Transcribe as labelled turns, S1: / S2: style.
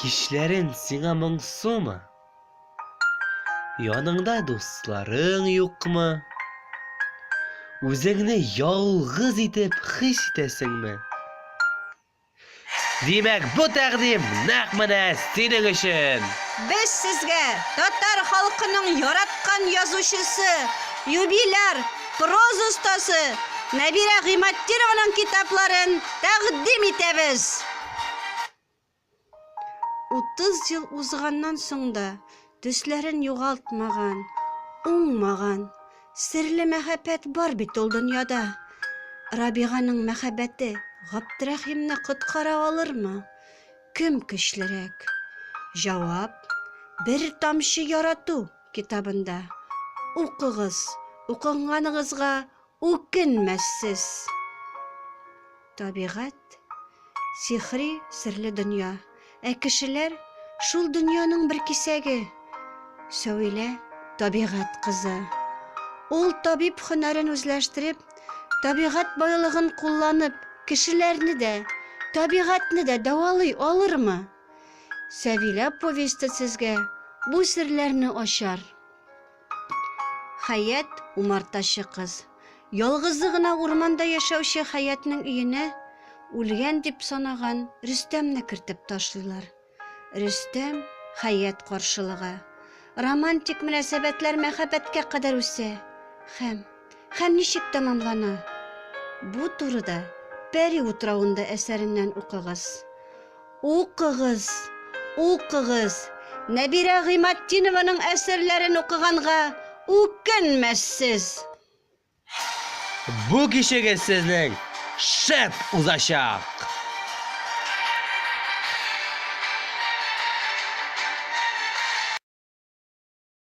S1: Кичләрен сиңа моңсумы? Яныңда дусларың юкмы? Үзеңне ялгыз итеп хис итәсеңме? Димәк, бу тәкъдим нәкъ менә синең өчен. Без сезгә
S2: татар халкының яраткан язучысы, юбиляр Проза остасы Нәбирә Гыйматдинованың китапларын тәкъдим итәбез! Утыз ел узганнан соң да төсләрен югалтмаган, уңмаган, серле мәхәббәт бар бит ул дөньяда. Рабиганың мәхәббәте Габдрәхимне коткара алырмы? Кем көчлерәк? Җавап, бер тамчы ярату Китабында. Укыгыз, укыганныгызга үкенмәссез! Табигать, сихри, серле дөнья. Ә кешеләр, шул дөньяның бер кисәге. Сәвилә, табигать кызы. Ул табиб һөнәрен үзләштереп, табигать байлыгын кулланып, кешеләрне дә, табигатьне дә дәвалый алырмы? Сәвилә повесте сезгә бу серләрне ачар. Хәят, умартачы кыз. Ялгызы гына урманда яшәүче Хәятның өенә үлгән дип санаган Рөстәмне кертеп ташлыйлар. Рөстәм Хәят каршылыга. Романтик мөнәсәбәтләр мәхәббәткә кадәр үсә һәм һәм ничек тәмамлана? Бу турыда Пәри утравында әсәреннән укыгыз. Укыгыз, укыгыз! Нәбирә Гыйматдинованың әсәрләрен укыганга үкенмәссез!
S1: Бу кичегез сезнең шәп узачак!